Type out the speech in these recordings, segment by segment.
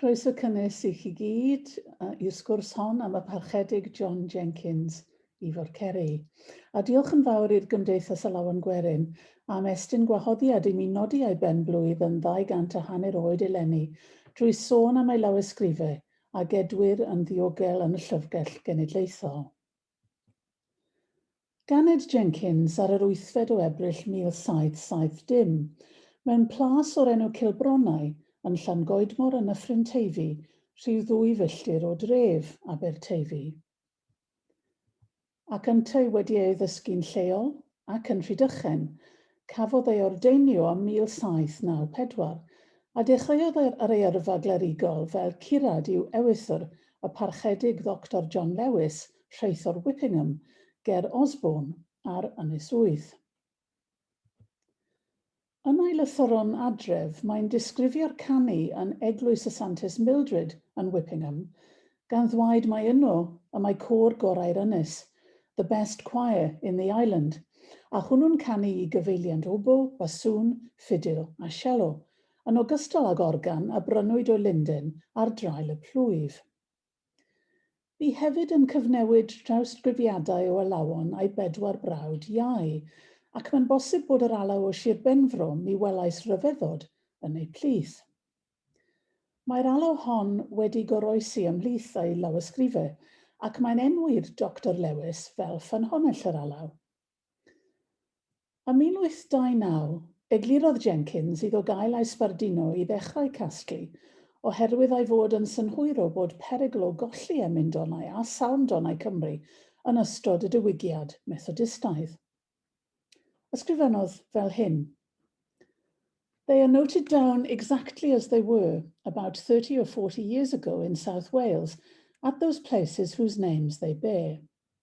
Croeso cynnes i chi gyd i'r sgwrs hon am y Parchedig John Jenkins i Forceri. A diolch yn fawr i'r Gymdeithas Alawen Gwerin am estyn gwahoddiad i mi nodi ei ben-blwydd yn ddau gant a hanner oed eleni drwy sôn am ei lawysgrifau a gedwir yn ddiogel yn y Llyfrgell Genedlaethol. Ganed Jenkins ar yr wythfed o Ebrill 1770, mewn plas o'r enw Cilbronnau, yn Llangoedmor yn Nyffryn Teifi, rhyw ddwy filltir o dref, Aberteifi. Ac yntau wedi ei ddysgu'n lleol, ac yn Rhydychen, cafodd ei ordeinio ym 1794, a dechreuodd ar ei yrfa glerigol fel curad i'w ewythr, y Parchedig Ddoctor John Lewis, rheithor Whippingham, ger Osborne, ar Ynys Wydd. Yn ei lythyr o'n adref, mae'n disgrifio'r canu yn Eglwys y Santes Mildred yn Whippingham, gan ddweud mai yno y mae côr gorau'r ynys, the best choir in the island, a hwnnw'n canu i gyfeiliant obo, basŵn, ffidil a sielo, yn ogystal ag organ a brynwyd o linden ar draul y plwyf. Bu hefyd yn cyfnewid drawsgrifiadau o alawon a'i bedwar brawd iau, ac mae'n bosib bod yr alaw o Shir Benfro mi welais ryfeddod yn eu plith. Mae'r alaw hon wedi goroesi ymhlith ei lawysgrife, ac mae'n enwi'r Doctor Lewis fel ffynhonnell yr alaw. Ym 1829, eglurodd Jenkins iddo gael ei sbarduno i ddechrau casglu, oherwydd ei fod yn synhwyro bod perygl o golli emyn-donau a salm-donau Cymru yn ystod y diwygiad Methodistaidd. Ysgrifennodd fel hyn, They are noted down exactly as they were, about thirty or forty years ago in South Wales, at those places whose names they bear.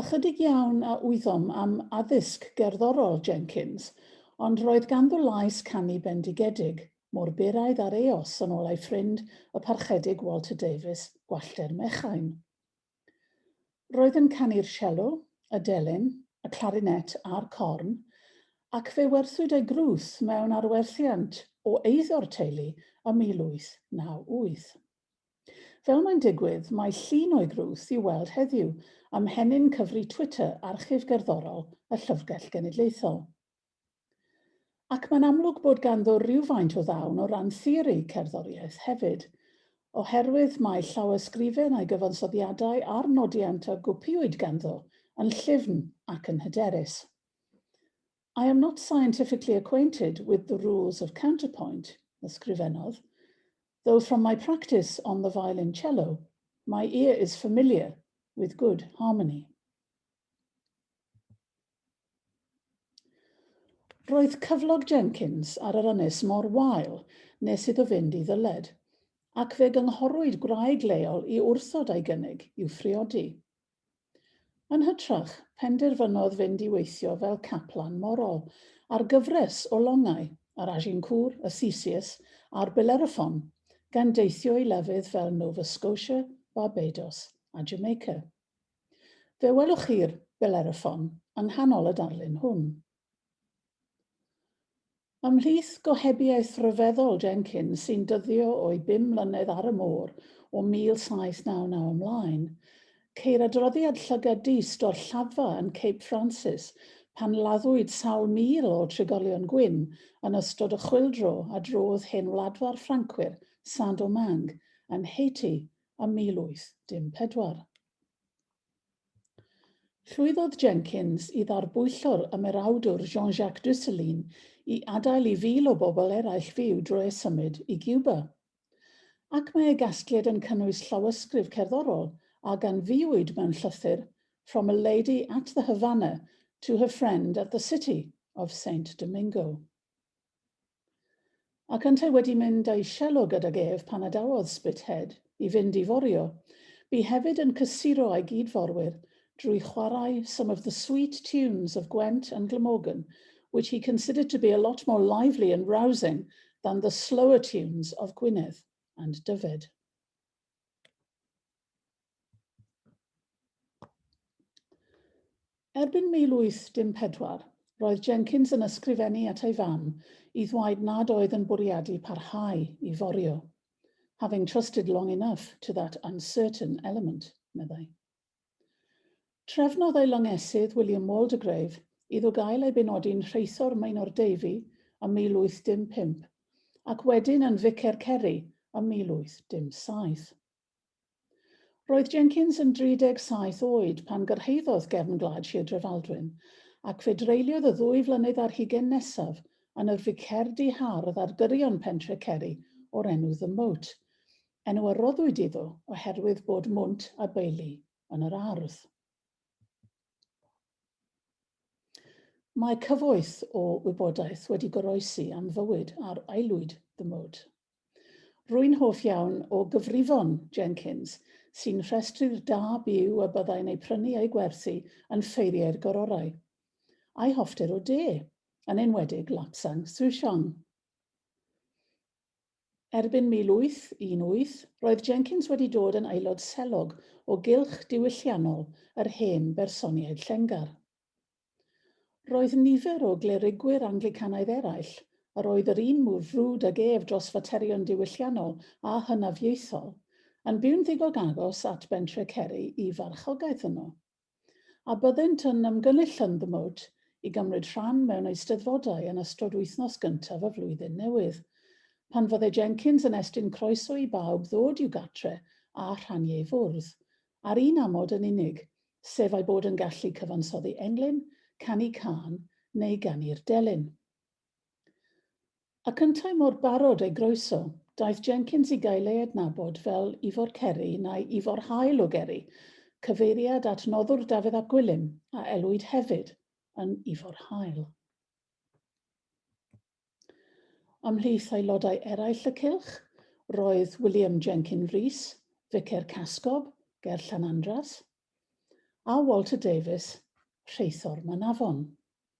Ychydig iawn a wyddom am addysg gerddorol Jenkins, ond roedd ganddo lais canu bendigedig, mor byraidd â'r eos yn ôl ei ffrind y Parchedig Walter Davies, Gwallter Mechain. Roedd yn canu'r sielo, y delyn, y clarinet a'r corn, ac fe werthwyd ei grwth mewn arwerthiant o eiddo'r teulu ym 1898. Fel mae'n digwydd, mae llun o'i grwth i'w weld heddiw ym mhenyn cyfri Twitter Archif Gerddorol y Llyfrgell Genedlaethol. Ac mae'n amlwg bod ganddo rywfaint o ddawn o ran theori cerddoriaeth hefyd, oherwydd mae llawysgrifen a'i gyfansoddiadau a'r nodiant a gwpiwyd ganddo yn llyfn ac yn hyderus. I am not scientifically acquainted with the rules of counterpoint, ysgrifennodd, though from my practice on the violoncello, my ear is familiar with good harmony. Roedd cyflog Jenkins ar yr ynys mor wael nes iddo fynd i ddyled, ac fe gynghorwyd gwraig leol i wrthod ei gynnig i'w phriodi. Yn hytrach, penderfynodd fynd i weithio fel caplan morol ar gyfres o longau, yr Agincourt, y Theseus a'r Bellerophon, gan deithio i lefydd fel Nova Scotia, Barbados a Jamaica. Fe welwch chi'r Bellerophon yng nghanol y darlun hwn. Ymhlith gohebiaeth ryfeddol Jenkins sy'n dyddio o'i bum mlynedd ar y môr o 1799 ymlaen, ceir adroddiad llygad dyst o'r Lladdfa yn Cape Francis pan laddwyd sawl mil o trigolion gwyn yn ystod y chwyldro a drodd hen wladfa'r Ffrancwyr, Saint-Domingue, yn Haiti ym 1814. Llwyddodd Jenkins i ddarbwyllo'r ymerawdwr Jean-Jacques Ducelin i adael i fil o bobl eraill fyw drwy eu symud i Giwba. Ac mae ei gasgliad yn cynnwys llawysgrif cerddorol a ganfuwyd mewn llythyr From a Lady at the Havana to her Friend at the City of Saint Domingo. Ac yntau wedi mynd a'i sielo gydag ef pan adawodd Spithead i fynd i forio, bu hefyd yn cysuro â'i gyd-forwyr drwy chwarae some of the sweet tunes of Gwent and Glamorgan which he considered to be a lot more lively and rousing than the slower tunes of Gwynedd and Dyfed. Erbyn 1814, roedd Jenkins yn ysgrifennu at ei fam i ddwaid nad oedd yn bwriadu parhau i forio, having trusted long enough to that uncertain element, meddai. Trefnodd ei longesydd, William Waldegrave, iddo gael ei benodi'n Rheithor Maenor Davey ym 1815, ac wedyn yn Ficer Ceri ym 1817. Roedd Jenkins yn 37 oed pan gyrhaeddodd gefn gwlad Sir Drefaldwyn, ac fe dreuliodd y ddwy flynedd ar hugain nesaf yn yr ficerdy hardd ar gyrion pentre Ceri o'r enw The Moat, enw a roddwyd iddo oherwydd bod mwnt a beili yn yr ardd. Mae cyfoeth o wybodaeth wedi goroesi am fywyd ar aelwyd The Moat. Rwy'n hoff iawn o gyfrifon Jenkins, sy'n rhestru'r da byw y byddai'n eu prynu a'u gwerthu yn ffeiriau'r gororau, a'i hoffter o de, yn enwedig Lapsang Souchong. Erbyn 1818, roedd Jenkins wedi dod yn aelod selog o gylch diwylliannol yr hen bersoniaid Llenggar. Roedd nifer o glerigwyr Anglicanaidd eraill, yr oedd yr un mor frwd ag ef dros faterion diwylliannol a hynafiaethol, yn byw'n ddigon agos at Bentre Ceri i farchogaeth yno. a byddent yn ymgynnull ymgymwyd i gymryd rhan mewn eisteddfodau yn ystod wythnos gyntaf y flwyddyn newydd. Pan fydde Jenkins yn estyn croeso i bawb ddod i'w gartre a rhannu ei fwrdd, ar un amod yn unig, sef ei bod yn gallu cyfansoddi englyn, canu cân neu ganu'r delyn. Ac yntau mor barod ei groeso, daeth Jenkins i gael ei adnabod fel Ifor Ceri neu Ifor Hael o Geri, cyfeiriad at noddwr Dafydd ap Gwilym, a elwid hefyd yn Ifor Hael. Ymhlith aelodau eraill y cylch, roedd William Jenkin Rees, Ficer Casgob, ger Llanandras, a Walter Davies, rheithor Manafon.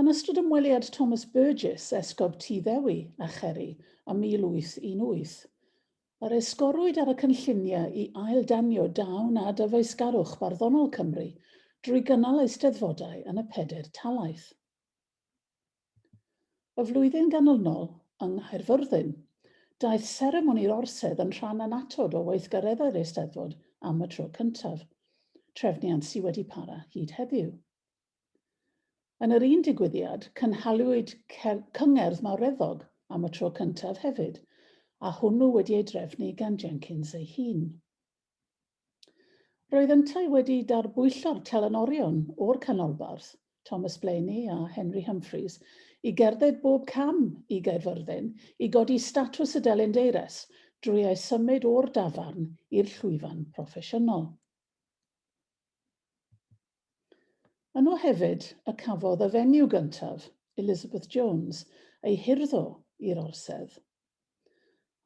Yn ystod ymweliad Thomas Burgess, Esgob Tŷ Ddewi a Cherry, ym 1818, yr esgorwyd ar y cynlluniau i ail-danio dawn a dyfeisgarwch barddonol Cymru drwy gynnal eisteddfodau yn y pedair talaith. Y flwyddyn ganlynol, yng Nghaerfyrddin, daeth seremoni'r Orsedd yn rhan annatod o weithgareddau'r Eisteddfod am y tro cyntaf, trefniant sy wedi para hyd heddiw. Yn yr un digwyddiad, cynhaliwyd cyngerdd mawreddog am y tro cyntaf hefyd, a hwnnw wedi ei drefnu gan Jenkins ei hun. Roedd yntau wedi darbwyllo'r telynorion o'r Canolbarth, Thomas Blayney a Henry Humphreys, i gerdded bob cam i Gaerfyrddin i godi statws y delyn deires drwy eu symud o'r dafarn i'r llwyfan proffesiynol. Yno hefyd y cafodd y fenyw gyntaf, Elizabeth Jones, ei hurddo i'r orsedd.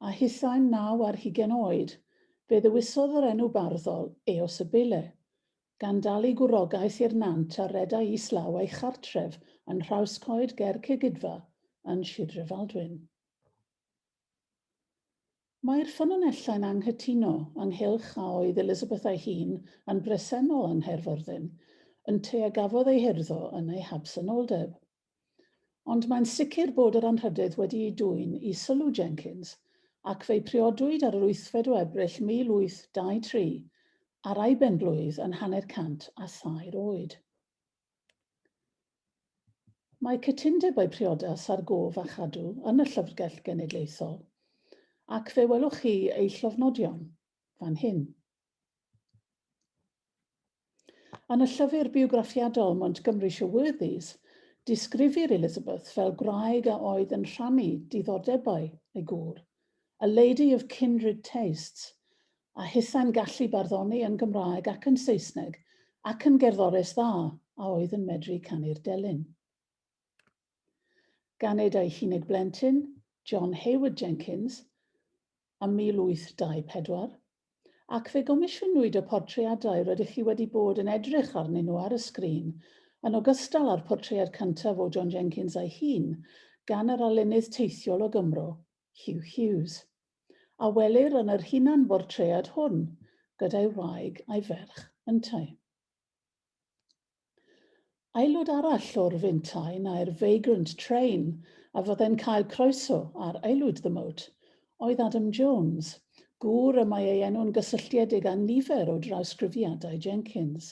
A hithau'n naw ar hugain oed, fe ddewisodd yr enw barddol Eos y Beule, gan dalu gwrogaeth i'r nant a redai islaw ei chartref yn Nhrawscoed ger Cegidfa yn Sir Drefaldwyn. Mae'r ffynonellau'n anghytuno ynghylch a oedd Elizabeth ei hun yn bresennol yng Nghaerfyrddin, ynteu a gafodd ei hurddo yn ei habsenoldeb. Ond mae'n sicr bod yr anrhydedd wedi'i dwyn i sylw Jenkins, ac fe'i priodwyd ar yr wythfed o Ebrill 1823, ar ei ben-blwydd yn hanner cant a thair oed. Mae cytundebau priodas ar gof a chadw yn y Llyfrgell Genedlaethol, ac fe welwch chi eu llofnodion fan hyn. Yn y llyfr biwgraffiadol Montgomery's Your Worthies, disgrifir Elizabeth fel gwraig a oedd yn rhannu diddordebau ei gŵr, a lady of kindred tastes, a hithau'n gallu barddoni yn Gymraeg ac yn Saesneg, ac yn gerddores dda a oedd yn medru canu'r delyn. Ganed ei hunig blentyn, John Hayward Jenkins, ym 1824, ac fe gomisiynwyd y portreadau rydych chi wedi bod yn edrych arnyn nhw ar y sgrin, yn ogystal â'r portread cyntaf o John Jenkins ei hun, gan yr arlunydd teithiol o Gymro, Hugh Hughes, a welir yn yr hunanbortread hwn gyda'i wraig a'i ferch yntau. Aelod arall o'r Fintai neu'r Vagrant Train a fyddai'n cael croeso ar Aelwyd the Moat oedd Adam Jones, gŵr y mae ei enw'n gysylltiedig â nifer o drawsgrifiadau Jenkins.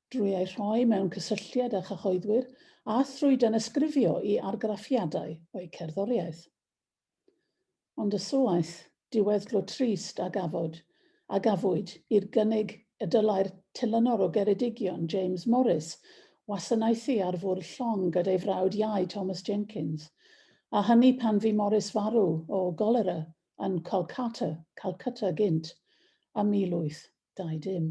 drwy eu rhoi mewn cysylltiad â chyhoeddwyr a thrwy danysgrifio i argraffiadau o'u cerddoriaeth. Ond y suaeth diweddglo trist a gafod, a gafwyd, i'r gynnig y dylai'r telynor o Geredigion, James Morris, wasanaethu ar fwrdd llong gyda'i frawd iau Thomas Jenkins, a hynny pan fu Morris farw o golera yn Kolkata, Calcutta gynt, ym 1820.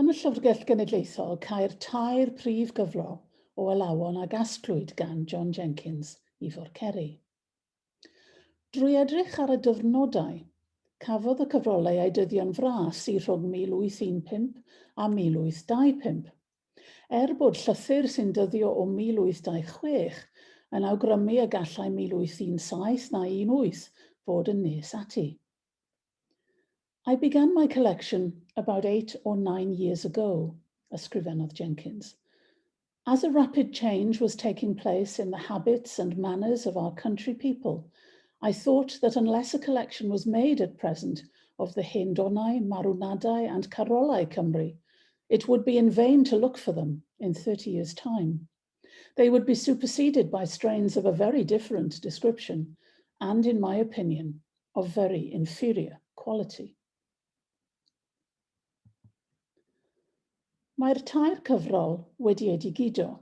Yn y Llyfrgell Genedlaethol, cair tair prif gyfro o alawon a gasglwyd gan John Jenkins i Forceri. Drwy edrych ar y dyfrnodau, cafodd y cyfrolau eu dyddio'n fras i rhwng 1815 a 1825. Er bod llythyr sy'n dyddio o 1826 yn awgrymu y gallai 1817 na 18 fod yn nes ati. I began my collection about eight or nine years ago, ysgrifennodd Jenkins. As a rapid change was taking place in the habits and manners of our country people, I thought that unless a collection was made at present of the hen donau, marwnadau and carolau Cymru, It would be in vain to look for them in thirty years time. They would be superseded by strains of a very different description and, in my opinion, of very inferior quality. Mae'r tair cyfrol wedi ei digido,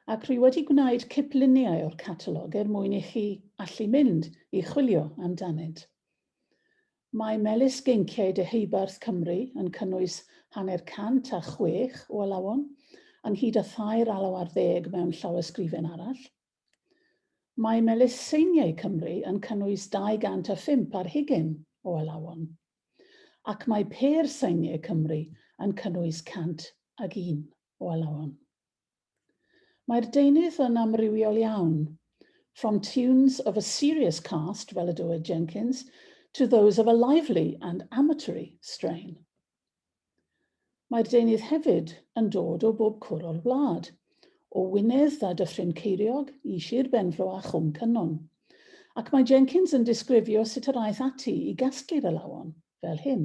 ac rwy wedi gwneud cipluniau o'r catalog er mwyn i chi allu mynd i chwilio amdanynt. Mae Melys Geinciau Deheubarth Cymru yn cynnwys hanner cant a chwech o alawon, ynghyd â thair alaw ar ddeg mewn llawysgrifen arall. Mae Melys Seiniau Cymru yn cynnwys 205 ar hugain o alawon. Ac mae Pêr Seiniau Cymru yn cynnwys 101 o alawon. Mae'r deunydd yn amrywiol iawn, from tunes of a serious cast, fel y dywed Jenkins, to those of a lively and amatory strain. Mae'r deunydd hefyd yn dod o bob cwr o'r wlad, o Wynedd a Dyffryn Ceiriog i Sir Benfro a Chwm Cynon, ac mae Jenkins yn disgrifio sut yr aeth ati i gasglu'r alawon, fel hyn.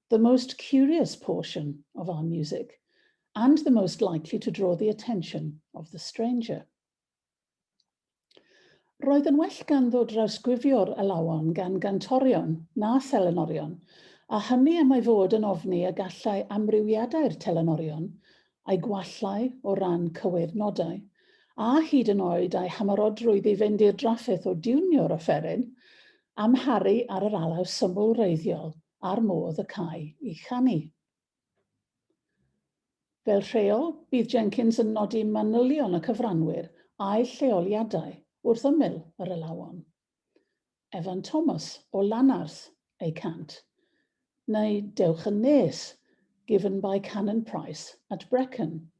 the most curious portion of our music and the most likely to draw the attention of the stranger. Roedd yn well ganddo drawsgrifio'r alawon gan gantorion na thelenorion, a hynny am ei fod yn ofni y gallai amrywiadau'r telenorion a'i gwallau o ran cywydd nodau, a hyd yn oed a'i hymerodrwydd i fynd i'r drafferth o diwnio'r offeryn, amharu ar yr alaw syml wreiddiol a'r modd y câi i chanu. Fel rheol, bydd Jenkins yn nodi manylion y cyfranwyr a'u lleoliadau wrth ymyl yr alawon. Evan Thomas o Lanarth, ei cant, neu Dewch yn Nes, Given by Canon Price at Brecon,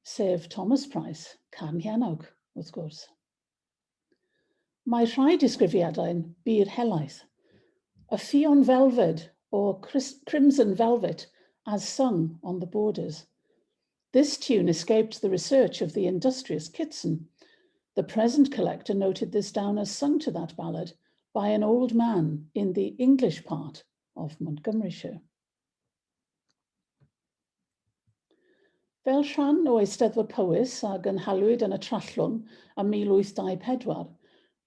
sef Thomas Price, Carn Llanawg, wrth gwrs. Mae rhai disgrifiadau'n bur helaeth. A Ffion Velfed o Crimson Velvet as sung on the borders. This tune escaped the research of the industrious Kitson. The present collector noted this down as sung to that ballad by an old man in the English part of Montgomeryshire. Fel rhan o Eisteddfod Powys a gynhaliwyd yn y Trallwng ym 1824,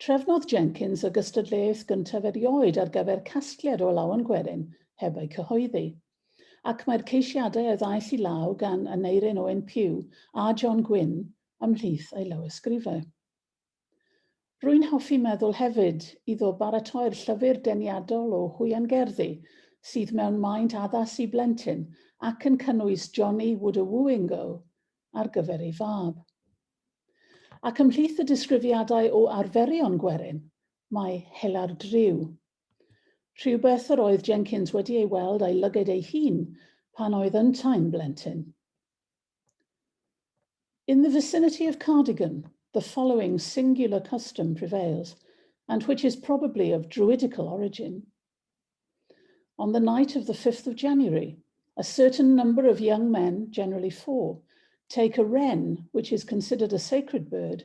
trefnodd Jenkins y gystadleuaeth gyntaf erioed ar gyfer casgliad o lawen gwerin heb eu cyhoeddi. ac mae'r ceisiadau a ddaeth i law gan Aneurin Owen Pugh a John Gwynn ymhlith ei lawysgrifau. Rwy'n hoffi meddwl hefyd iddo baratoi'r llyfr deniadol o hwiangerddi sydd mewn maint addas i blentyn ac yn cynnwys Johnny Would a Wooing Go ar gyfer ei fab. Ac ymhlith y disgrifiadau o arferion gwerin, mae hela'r driw, Rhywbeth yr oedd Jenkins wedi ei weld a'i lyged ei hun pan oedd yntau'n blentyn. In the vicinity of Cardigan, the following singular custom prevails, and which is probably of druidical origin. On the night of the 5th of January, a certain number of young men, generally four, take a wren, which is considered a sacred bird,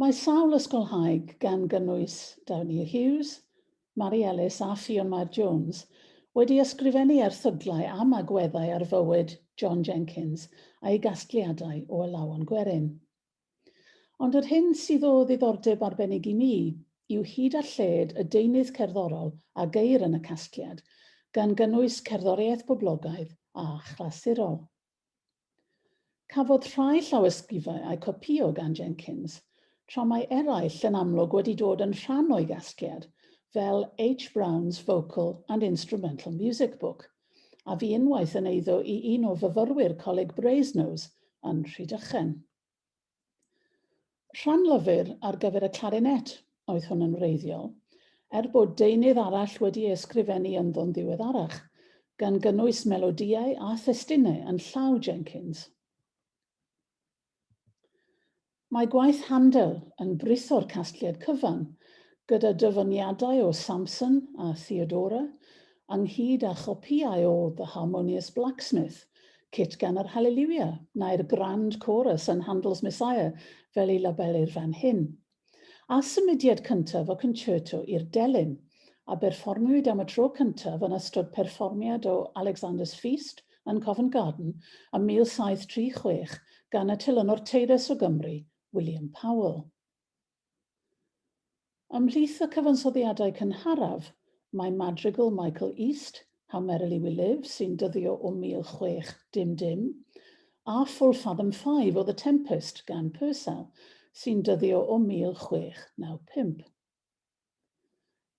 Mae sawl ysgolhaig, gan gynnwys Downey Hughes, Mari Ellis a Fiona Jones, wedi ysgrifennu erthyglau am agweddau ar fywyd John Jenkins a'i gasgliadau o Alawon Gwerin. Ond yr hyn sydd o ddiddordeb arbennig i mi yw hyd a lled y deunydd cerddorol a geir yn y casgliad, gan gynnwys cerddoriaeth boblogaidd a chlasurol. Cafodd rhai llawysgrifau eu copïo gan Jenkins, tra mae eraill yn amlwg wedi dod yn rhan o'i gasgliad, fel H. Brown's Vocal and Instrumental Music Book, a fu unwaith yn eiddo i un o fyfyrwyr Coleg Brasenose yn Rhydychen. Rhan lyfr ar gyfer y clarinet oedd hwn yn wreiddiol, er bod deunydd arall wedi ei ysgrifennu ynddo'n ddiweddarach, gan gynnwys melodïau a thestunau yn llaw Jenkins. Mae gwaith Handel yn britho'r casgliad cyfan, gyda dyfyniadau o Samson a Theodora, ynghyd â chopïau o The Harmonious Blacksmith, cit gan yr Hallelujah, neu'r Grand Chorus yn Handel's Messiah fel ei labelir fan hyn. A symudiad cyntaf o Concerto i'r Delyn, a berfformiwyd am y tro cyntaf yn ystod perfformiad o Alexander's Feast yn Covent Garden ym 1736 gan y telynwr teyrus o Gymru, William Powell. Ymhlith y cyfansoddiadau cynharaf, mae madrigal Michael East, How Merrily We Live, sy'n dyddio o 1600, a Full Fathom Five o The Tempest gan Purcell, sy'n dyddio o 1695.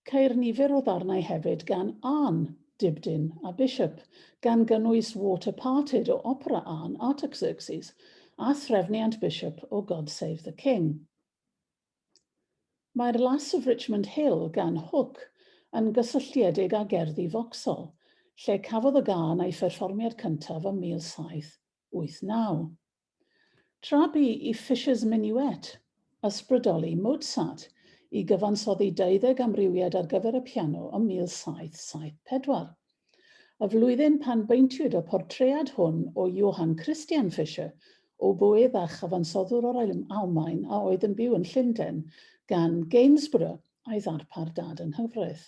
Ceir nifer o ddarnau hefyd gan Arne Dibdin a Bishop, gan gynnwys Water Parted o opera Arne Artaxerxes a Threfniant Bishop o God Save the King. Mae'r Lass of Richmond Hill gan Hook yn gysylltiedig â gerddi Vauxhall, lle cafodd y gân ei pherfformiad cyntaf ym 1700. 1989. Tra bu i Fischer's Minuet ysbrydoli Mozart i gyfansoddi deuddeg amrywiad ar gyfer y piano ym 1774, y flwyddyn pan beintiwyd y portread hwn o Johann Christian Fischer, oboëdd a chyfansoddwr o'r Almaen a oedd yn byw yn Llundain, gan Gainsborough, a'i ddarpar dad yng nghyfraith.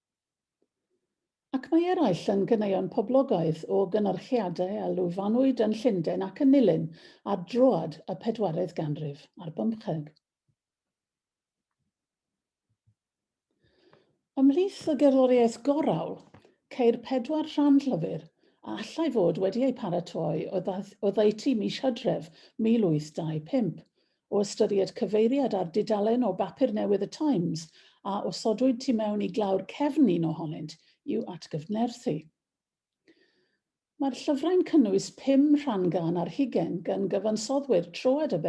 Ac mae eraill yn ganeuon poblogaidd o gynyrchiadau a lwyfannwyd yn Llundain ac yn Nulyn ar droad y pedwaredd ganrif ar bymtheg. Ymhlith y gerddoriaeth gorau, ceir pedwar rhan llyfr a allai fod wedi eu paratoi oddeutu mis Hydref 1825, o ystyried cyfeiriad ar dudalen o bapur newydd y Times a osodwyd tu mewn i glawr cefn un ohonynt i'w atgyfnerthu. Mae'r llyfrau'n cynnwys pum rhan gân ar hugain gan gyfansoddwyr troed y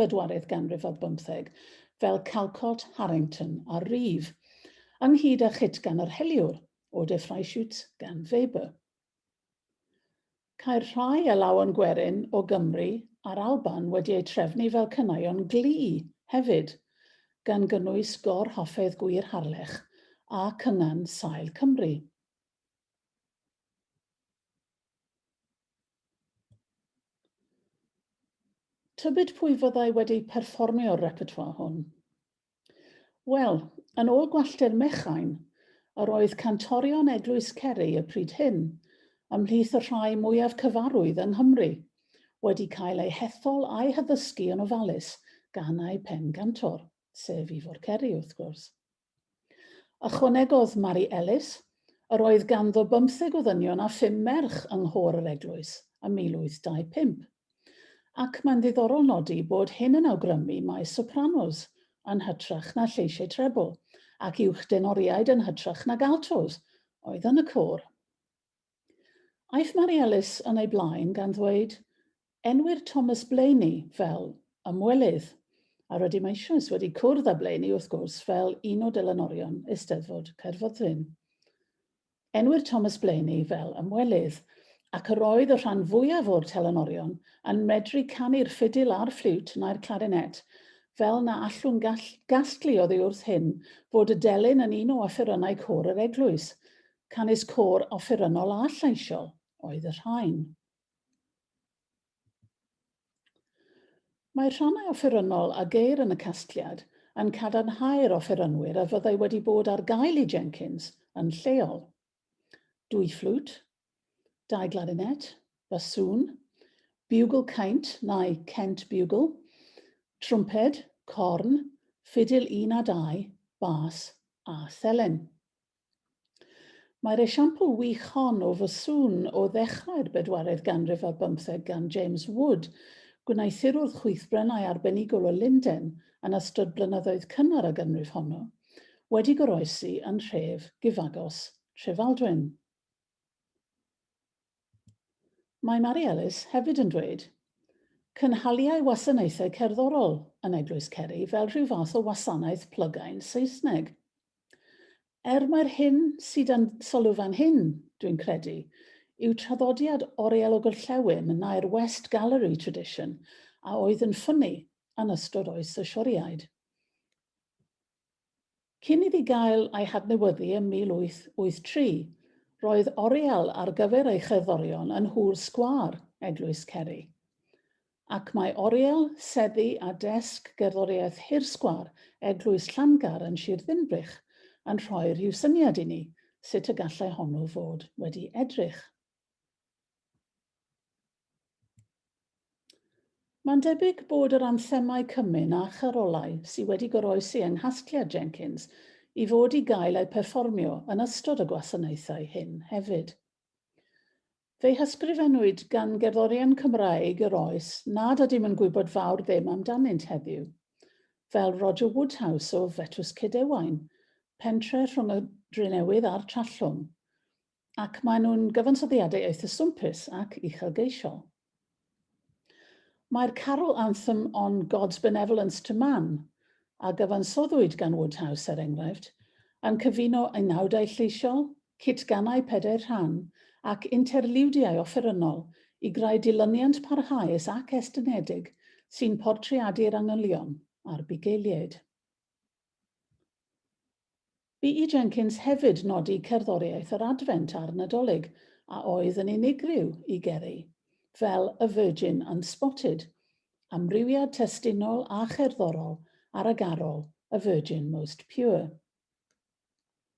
bedwaredd ganrif ar bymtheg fel Calcot, Harrington a Reeve, ynghyd â chit gan yr heliwr, Eau de Freischütz gan Weber. Caer rhai a law yn gwerin o Gymru a'r Alban wedi eu trefnu fel cynaion gli hefyd, gan gynnwys gor-hoffédd gwir Harlech a Cyngan Sail Cymru. Tybid pwy fyddai wedi perfformio'r repertoire hwn? Wel, yn ôl gwalltir Mechain, yr oedd cantorion Eglwys Ceri y pryd hyn, ymhlith y rhai mwyaf cyfarwydd yng Nghymru, wedi cael eu hethol a'u haddysgu yn ofalus gan eu pen-gantor, sef Ifor Ceri, wrth gwrs. Ychwanegodd Mari Ellis, Yr oedd ganddo bymtheg o ddynion a phum merch yng nghôr yr eglwys ym 1825. Ac mae'n ddiddorol nodi bod hyn yn awgrymu mai sopranos yn hytrach na lleisiau trebl, ac uwchdenoriaid yn hytrach nag altos, oedd yn y côr. Aeth Mari Ellis yn ei blaen gan ddweud, Enwir Thomas Blaney fel ymwelydd, a rydym eisoes wedi cwrdd â Blaney, wrth gwrs, fel un o delynorion Eisteddfod Caerfyrddin. Enwir Thomas Blaney fel ymwelydd, ac yr oedd y rhan fwyaf o'r telynorion yn medru canu'r ffidil a'r ffliwt nai'r clarinet, fel na allwn gall, gasglu oddi wrth hyn fod y delyn yn un o offerynnau côr yr eglwys. Canys côr offerynnol a llaisiol oedd y rhain. Mae rhannau offerynnol a geir yn y casgliad yn cadarnhau'r offerynwyr a fyddai wedi bod ar gael i Jenkins yn lleol, dwy fflwt, dau glarinet, basŵn, biwgl caint neu Kent bugle, trwmped, corn, ffidil un a dau, bas a thelen. Mae'r esiampl wych hon o fy sŵn o ddechrau'r bedwaredd ganrif ar bymtheg gan James Wood, gwneuthurwr chwithbrennau arbenigol o Lunden yn ystod blynyddoedd cynnar y ganrif honno, wedi goroesi yn nhref gyfagos Trefaldwyn. Mae Mari Ellis hefyd yn dweud, Cynhaliai wasanaethau cerddorol yn Eglwys Ceri fel rhyw fath o wasanaeth plygain Saesneg. Er mai'r hyn sydd yn sylw fan hyn, dwi'n credu, yw traddodiad Oriel o Gorllewin yn naer West Gallery tradition a oedd yn ffynnu yn ystod oes y Sioriaid. Cyn iddi gael ei hadnewyddu ym 1883, roedd oriel ar gyfer ei cherddorion yn nhŵr sgwâr Eglwys Ceri. Ac mae oriel, seddi a desg gerddoriaeth hirsgwâr Eglwys Llangar yn Sir Ddinbych yn rhoi rhyw syniad i ni sut y gallai honnw fod wedi edrych. Mae'n debyg bod yr anthemau cymun a charolau sydd wedi goroesi yng nghasgliad Jenkins i fod i gael eu perfformio yn ystod y gwasanaethau hyn hefyd. Fe'i hysgrifennwyd gan gerddorion Cymraeg yr oes nad ydym yn gwybod fawr ddim amdanynt heddiw, fel Roger Woodhouse o Fetws Cyd-ewain, pentre rhwng y Drenewydd a'r Trallwng, ac maen nhw'n gyfansoddiadau eitha swmpus ac uchelgeisiol. Mae'r carol anthem On God's Benevolence to Man, a gyfansoddwyd gan Woodhouse, er enghraifft, yn cyfuno unawdau lleisiol, cit-ganau pedair rhan, ac interliwdiau offerynnol i greu dilyniant parhaus ac estynedig sy'n portreadu'r angylion a'r bugeiliaid. Bu i Jenkins hefyd nodi cerddoriaeth yr Adfent a'r Nadolig, a oedd yn unigryw i Gerry, fel A Virgin Unspotted, amrywiad testunol a cherddorol ar y garol A Virgin Most Pure.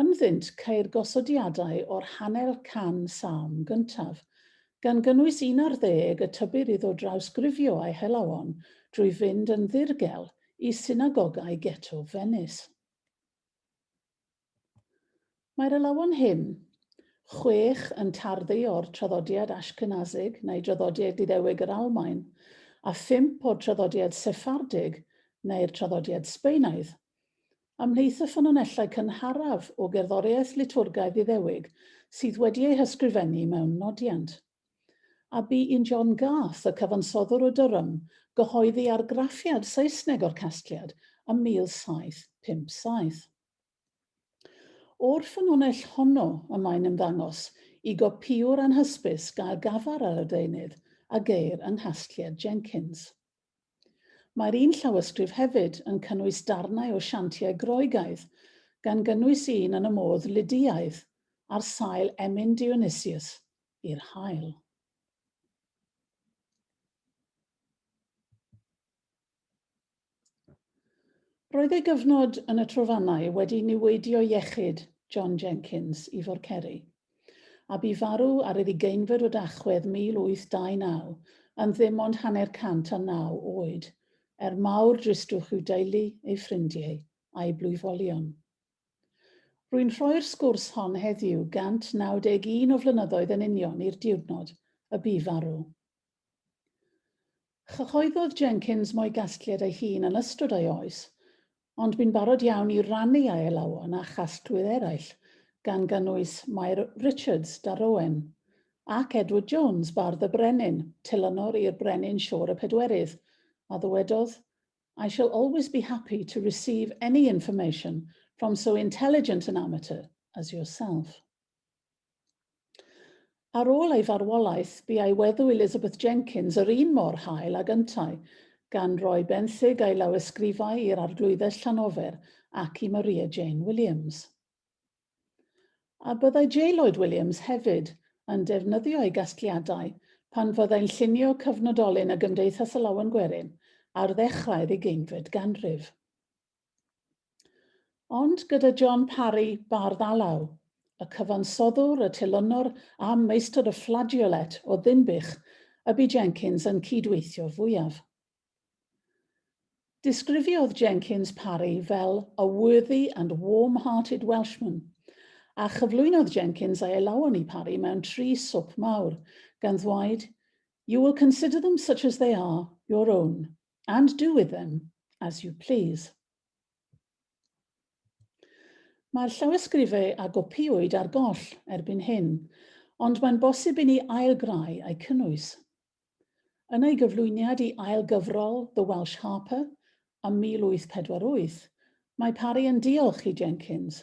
Ynddynt ceir gosodiadau o'r hanner can salm gyntaf, gan gynnwys un ar ddeg y tybir iddo drawsgrifio a'i helawon drwy fynd yn ddirgel i synagogau geto Fenis. Mae'r elawon hyn, chwech yn tarddu o'r traddodiad Ashkenazig neu draddodiad Iddewig yr Almaen, a phump o'r traddodiad Seffardig neu'r traddodiad Sbaenaidd. Ymhlith y ffynonellau cynharaf o gerddoriaeth litwrgaidd Iddewig sydd wedi eu hysgrifennu mewn nodiant. A bu un John Garth, y cyfansoddwr o Durham, gyhoeddi argraffiad Saesneg o'r casgliad ym 1757. O'r ffynonell honno y mae'n ymddangos i gopïwr anhysbys gael gafar ar y deunydd a geir yng nghasgliad Jenkins. Mae'r un llawysgrif hefyd yn cynnwys darnau o siantiau Groegaidd, gan gynnwys un yn y modd Lydïaidd, ar sail emyn Dionysius i'r haul. Roedd ei gyfnod yn y Trofannau wedi niweidio iechyd John Jenkins i Forceri. a bu farw ar yr ugeinfed o Dachwedd 1829, yn ddim ond hanner cant a naw oed, er mawr dristwch i'w deulu, ei ffrindiau, a'i blwyfolion. Rwy'n rhoi'r sgwrs hon heddiw 191 o flynyddoedd yn union i'r diwrnod y bu farw. Cyhoeddodd Jenkins mo'i gasgliad ei hun yn ystod ei oes, ond bu'n barod iawn i rannu â'i alawon â chasglwyr eraill, gan gynnwys Mair Richards, Darowen, ac Edward Jones, bardd y brenin, Tylynor i'r Brenin Siôr y Pedwerydd, a ddywedodd, I shall always be happy to receive any information from so intelligent an amateur as yourself. Ar ôl ei farwolaeth, bu a'i weddw Elizabeth Jenkins yr un mor hael ag yntau, gan roi benthyg a'i lawysgrifau i'r Arglwyddes Llanofer ac i Maria Jane Williams. A byddai J. Lloyd Williams hefyd yn defnyddio ei gasgliadau pan fyddai'n llunio cyfnodolyn y Gymdeithas Alawen Gwerin ar ddechrau'r ugeinfed ganrif? Ond gyda John Parry, bardd alaw, y cyfansoddwr, y telynor a meistr y flageolet o Ddinbych y bu Jenkins yn cyd-weithio fwyaf. Disgrifiodd Jenkins Parry fel 'a worthy and warm-hearted Welshman', a chyflwynodd Jenkins ei alawon i Parry mewn tri swp mawr, gan ddweud, You will consider them such as they are, your own, and do with them as you please. Mae'r llawysgrifau a gopiwyd ar goll erbyn hyn, ond mae'n bosib i ni ailgrau eu cynnwys. Yn ei gyflwyniad i ail gyfrol The Welsh Harper ym 1848, mae Parry yn diolch i Jenkins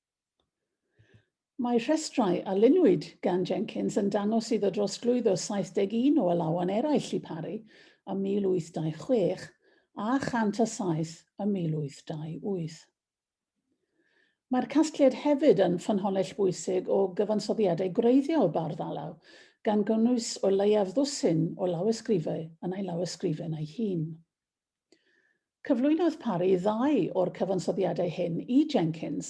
Mae rhestrau a luniwyd gan Jenkins yn dangos iddo drosglwyddo 71 o alawon eraill i Parry ym 1826 a 107 ym 1828. Mae'r casgliad hefyd yn ffynhonnell bwysig o gyfansoddiadau gwreiddiol bardd alaw, gan gynnwys o leiaf ddwsin o lawysgrifau yn ei lawysgrifen ei hun. Cyflwynodd Parry ddau o'r cyfansoddiadau hyn i Jenkins,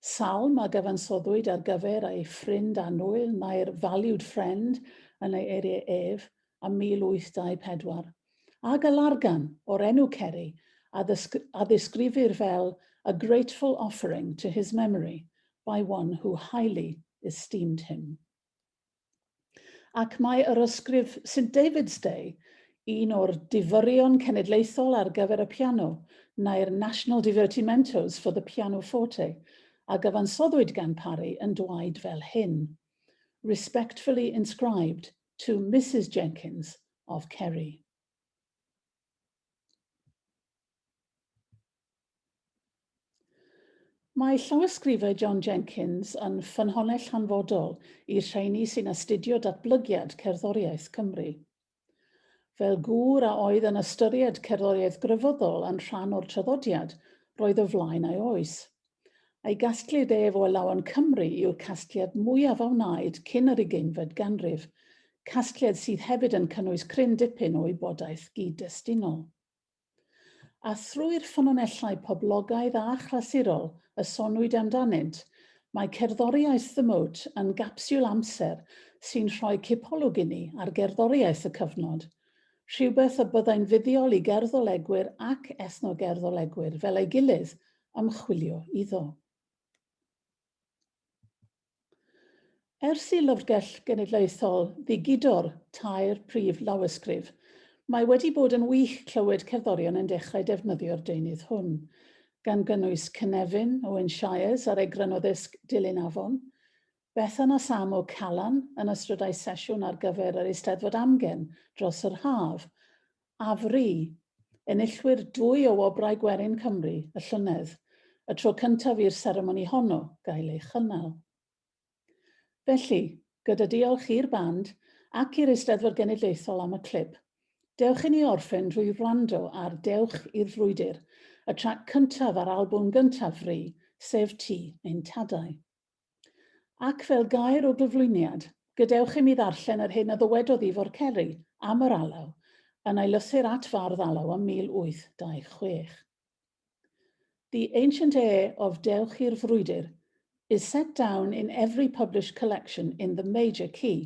salm a gyfansoddwyd ar gyfer ei ffrind annwyl, My Valued Friend, yn ei eiriau ef, a 1824, a galargan o'r enw Ceri a ddisgrifir fel a grateful offering to his memory by one who highly esteemed him. Ac mae yr ysgrif St David's Day, un o'r difyrion cenedlaethol ar gyfer y piano, neu'r National Divertimentos for the Pianoforte, a gyfansoddwyd gan Parry yn dwaid fel hyn, Respectfully inscribed to Mrs Jenkins of Kerry. Mae llawysgrifau John Jenkins yn ffynhonnell hanfodol i'r rheini sy'n astudio datblygiad cerddoriaeth Cymru. Fel gŵr a oedd yn ystyried cerddoriaeth grefyddol yn rhan o'r traddodiad, roedd o flaen ei oes. Ei gasgliad ef o Alawen Cymru yw'r casgliad mwyaf a wnaed cyn yr ugeinfed ganrif, casgliad sydd hefyd yn cynnwys cryn dipyn o wybodaeth gyd-destunol. A thrwy'r ffynonellau poblogaidd a chlasurol y soniwyd amdanynt, mae cerddoriaeth The Moat yn gapsiwl amser sy'n rhoi cipolwg inni ar gerddoriaeth y cyfnod, rhywbeth y byddai'n fuddiol i gerddolegwyr ac ethnogerddolegwyr fel ei gilydd ymchwilio iddo. Ers i Lyfrgell Genedlaethol ddigidor tair prif lawysgrif, mae wedi bod yn wych clywed cerddorion yn dechrau defnyddio'r deunydd hwn, gan gynnwys Cynefin, Owen Shires ar egron o ddisg Dilyn Afon, Bethan a Sam o Calan yn ystrydau sesiwn ar gyfer yr Eisteddfod Amgen dros yr haf, Afri, enillwyr dwy o Wobrau Gwerin Cymru y llynedd, y tro cyntaf i'r seremoni honno gael ei chynnal. Felly, gyda diolch i'r band ac i'r Eisteddfod Genedlaethol am y clip, dewch i ni orffen drwy wrando ar Dewch i'r Frwydr, y trac cyntaf ar albwm gyntaf Fri, sef Ti ein Tadau. Ac fel gair o gyflwyniad, gadewch i mi ddarllen yr hyn a ddywedodd Ifor Ceri am yr alaw yn ei lythyr at Fardd Alaw ym 1826. The ancient air of Dewch i'r Frwydr is set down in every published collection in the major key,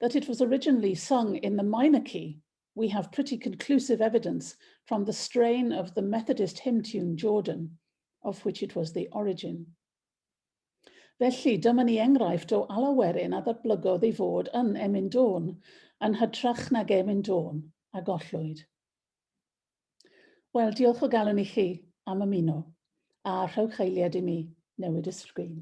that it was originally sung in the minor key, we have pretty conclusive evidence from the strain of the Methodist hymn tune Jordan, of which it was the origin. Felly, dyma ni enghraifft o alawerin a ddatblygodd ei fod yn Emyn Dôn, yn hytrach nag Emyn Dôn, a gollwyd. Wel, diolch o galon i chi am ymuno, a rhowch eiliad i mi newid y sgrin.